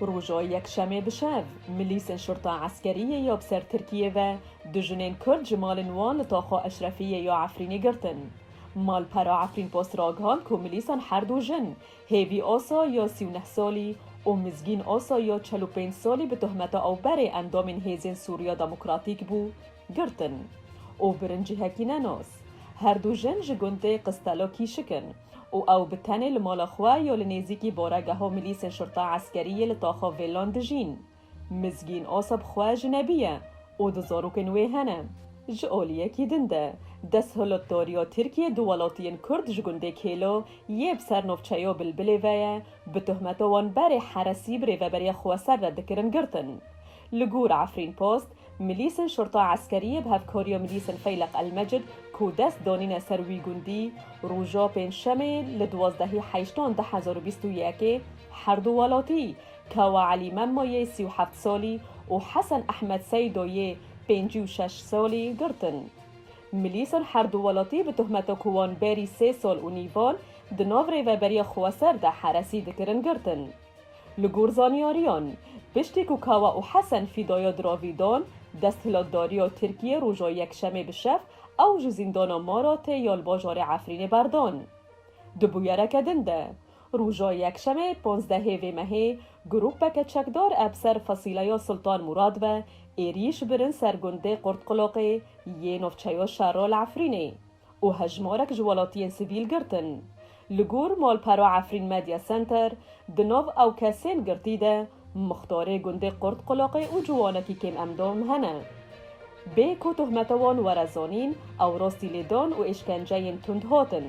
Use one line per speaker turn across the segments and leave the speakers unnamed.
Roja Yekşemê bi şev, milîsên şurta eskeriyê ya bi ser Tirkiyê ve du jinên Kurd ji malên wan li Taxa Eşrefiyê ya Efrînê girtin. Malpera Efrînpost ragihand ku milîsan her du jin, Hêvî Asa ya sî û neh salî û Mizgîn Asa ya çel û pênc salî bi tohmeta ew berê endamên Hêzên Sûriya Demokratîk bû, Girtin. Û birincî hekî ne nos. Her du jin ji gundê Qistelo kîşik in. Û ew bi tenê li mala xwe yo li nêzîkî boregeha milîsên şurta eskerî yê li taxa Vêlan dijîn. Mizgîn Asab xwe jinebî ye û du zarokên wê hene. Ji aliyekî din de, desthilatdariya Tirkiyê du welatiyên Kurd ji gundê Kêlo yê bi ser navçeya Bilbilê ve ye, bi tohmeta wan berê Heresî bi rêveberiya xweser re dikirin girtin. Li gor Efrînpost, milîsên Şurta Eskeriyê bi hevkariya milîsên Feyleq Elmecid ku dest danîne ser wî gundî, roja pêncşemê li duwazdehî heyştan du hezar û bîst û yekê herdu welatî Kawa Elî Memma yê sî û heft salî û Hesen Ehmed Seydo yê pêncî û şeş salî girtin. Milîsên herdu welatî bi tohmeta ku wan berî sê sal û nîvan di nav Rêveberiya Xweser de heresî dikirin girtin. Li gor zanyariyan, piştî ku Kawa û Hesen Fîdaya diravî dan, desthilatdariya Tirkiyê roja Yekşemê bi şev ew ji zîndana Maratê ya li bajarê Efrînê berdan. Di bûyereke din de, roja Yekşemê panzdehê vê mehê grûpeke çekdar eb ser Fasîleya Sultan Mûrad ve êrîş birin ser gundê Qurtqulaqê yê navçeya Şerra li Efrînê. û hejmarek ji welatiyên sivîl girtin. Li gor malpera Efrîn Media Center, di nav ew kesên girtî de muxtarê gundê Qurtqulaqê û ciwanekî kêm endam hene. Bê ku tohmeta wan were zanîn, ew rastî lêdan û êşkenceyên tund hatin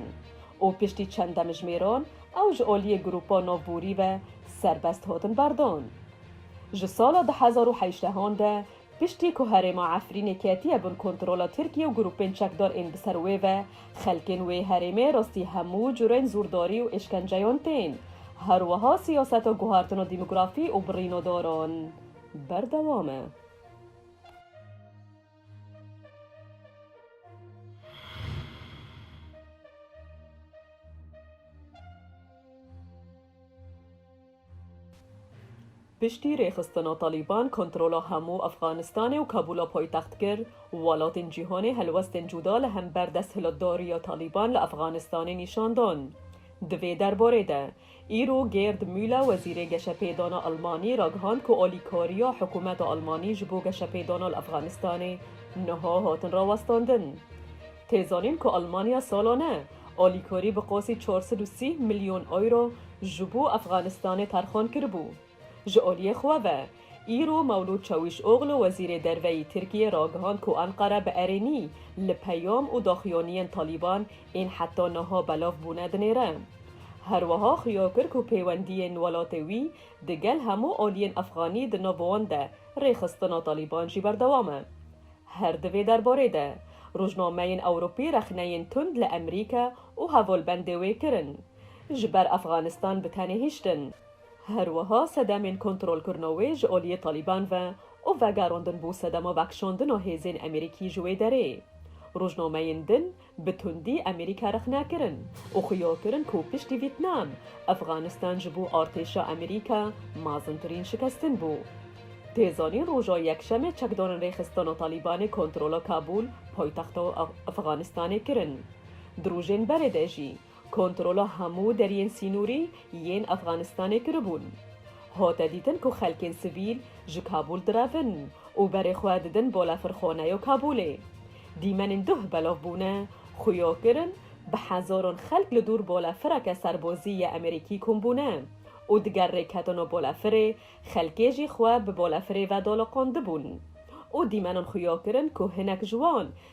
û piştî çend demijmêran ew ji aliyê grûpa navborî ve serbest hatin berdan. Ji sala du hezar û heştehan de Piştî ku herêma Efrînê ketiye bin kontrola Tirkiye û grûpên çekdar ên bi ser wê ve, xelkên wê herêmê rastî hemû curên zûrdarî û êşkenceyan tên. Her wiha siyaseta guhartina dîmografî û birîna daran berdewam e. Piştî rêxistina Talîban kontrola hemû Efxanistanê û Kabûla paytext kir, welatên cîhanê helwestên cuda li hember desthilatdariya Talîban li Efxanistanê nîşan dan. Di vê derbarê de, îro Gêrd Mûle wezîrê geşepêdana Elmanî ragihand ku alîkariya hikûmeta Elmanî ji bo geşepêdana li Efxanistanê niha hatin rawestandin. Tê zanîn ku Elmanya salane Alîkorî bi qosî çar sed û sî milyon euro ji bo Efxanistanê terxan kiribû. Ji aliyê xwe ve, îro Mewlûd Çewîşoglu Wezîrê Derveyî Tirkiyê ragihand ku Enqere bi erênî li peyam û daxuyaniyên Talîban ên heta niha belav bûne dinêre. Her wiha xuya kir ku pêwendiyên welatê wî di gel hemû aliyên Efxanî di nav wan de rêxistina Talîban jî berdewam e. Her di vê derbarê de, rojnameyên Ewropî rexneyên tund li Emrîka û hevolbendê wê kirin, ji ber Efxanistan bi tenê hiştin. Her wiha sedemên kontrolkirina wê ji aliyê Talîban ve û vegerandin bo sedema vekişandina hêzên Emerîkî ji wê derê. Rojnameyên din Bi tundî Amerîka rexne kirin û xuya kirin ku piştî Vîtnam, Efxanistan ji bo artêşa Amerîka mazintirîn şikestin bû. Tê zanîn roja Yekşemê çekdarên Rêxistana Talîbanê kontrola Kabûl, paytexta Efxanistanê kirin. Di rojên berê de jî, Kontrola hemû deriyên sînorî yên Efxanistanê kiribûn. Hate dîtin ku xelkên sivîl ji Kabûl direvin û berê xwe didin Bolefirxoneyo Kabûlê. Dîmenên duh belav bûne, xuya kirin, bi hezaran xelk li dûr bolefireke serbozî yê Emerîkî kom bûne û di ger rê ketino bolefirê xelkê jî xwe bi bolefirê ve daliqandibûn û dîmenan xuya kirin ku hinek ji wan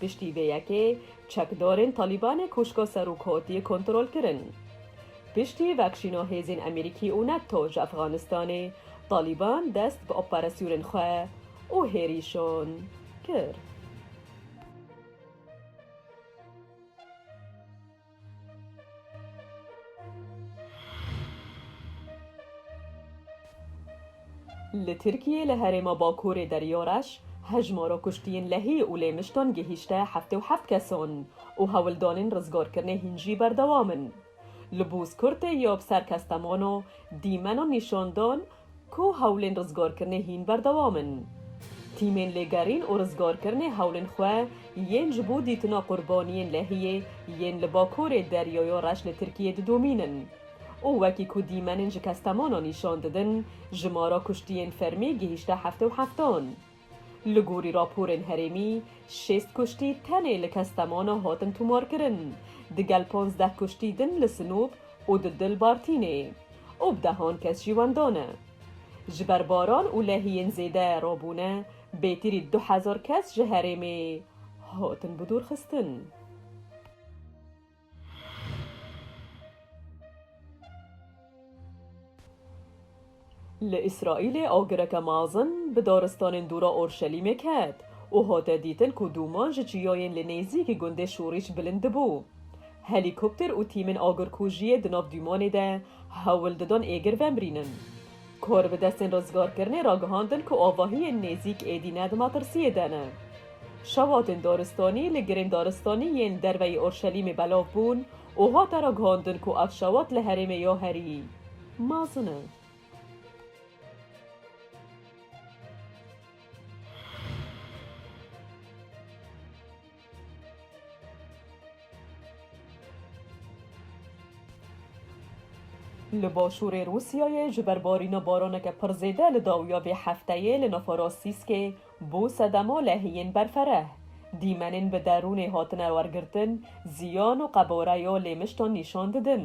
Piştî vê yekê çekdarên Talîbanê kûşka Serokatiyê kontrol kirin. Piştî vekşîna hêzên Amerîkî û Nato ji Efxanistanê, Talîban dest bi operasyonên xwe û hêrîşan kir. Li Tirkiyê li herêma Bakurê Derya Reş hejmara kuştiyên lehî û lêmiştan gihîşte heftê û heft kesan û hewldanên rizgarkirinê hîn jî berdewam in. Li Bûzkurtê ya bi ser Kestemano dîmena nîşandan Ku hewlên rizgarkirinê hîn berdewam in. Tîmên lêgerîn û rizgarkirinê hewlên xwe yên ji bo dîtina qurbaniyên lehiyê yên li bakurê Deryaya Reş li Tirkiyê didomînin û wekî ku dîmenên ji Kestemana nîşan didin, jimara kuştiyên fermî gihîşte heftê û heftan. Li gorî raporên herêmî, şêst kuştî tenê li Kestemona hatin tomarkirin, digel panzdeh kuştî din li Sinop û di Dil Bartînê û bi dehan kes jî wenda ne. Ji ber baran û lehiyên zêde rabûne, bêtirî du hezar kes ji herêmê hatin bidûrxistin. Li Îsraîlê agireke mezin bi daristanên dû re Orşelîmê ket û hate dîtin ku dûman ji çiyayên li nêzîkî gundê şorîş bilind dibû. Helîkopter û tîmên agirkujiyê di nav dûmanê de hewl didan êgir vemrînin. Kor bi destên rizgarkirinê re gihandin ku avahiyên nêzîk êdî ne di metirsiyê de ne. Şewatên daristanî li girên daristanî yên derveyî Urşelîmê belav bûn û hate ragihandin ku ev şewat li herêmê ya herî mezin e. Li başûrê Rûsyayê ji ber barîna baraneke pir zêde li dawiya vê hefteyê li navara Sîskê bû sedema lehiyên berfereh. Dîmenên bi derûnê hatine wergirtin ziyan û qebare ya lê miştan nîşan didin.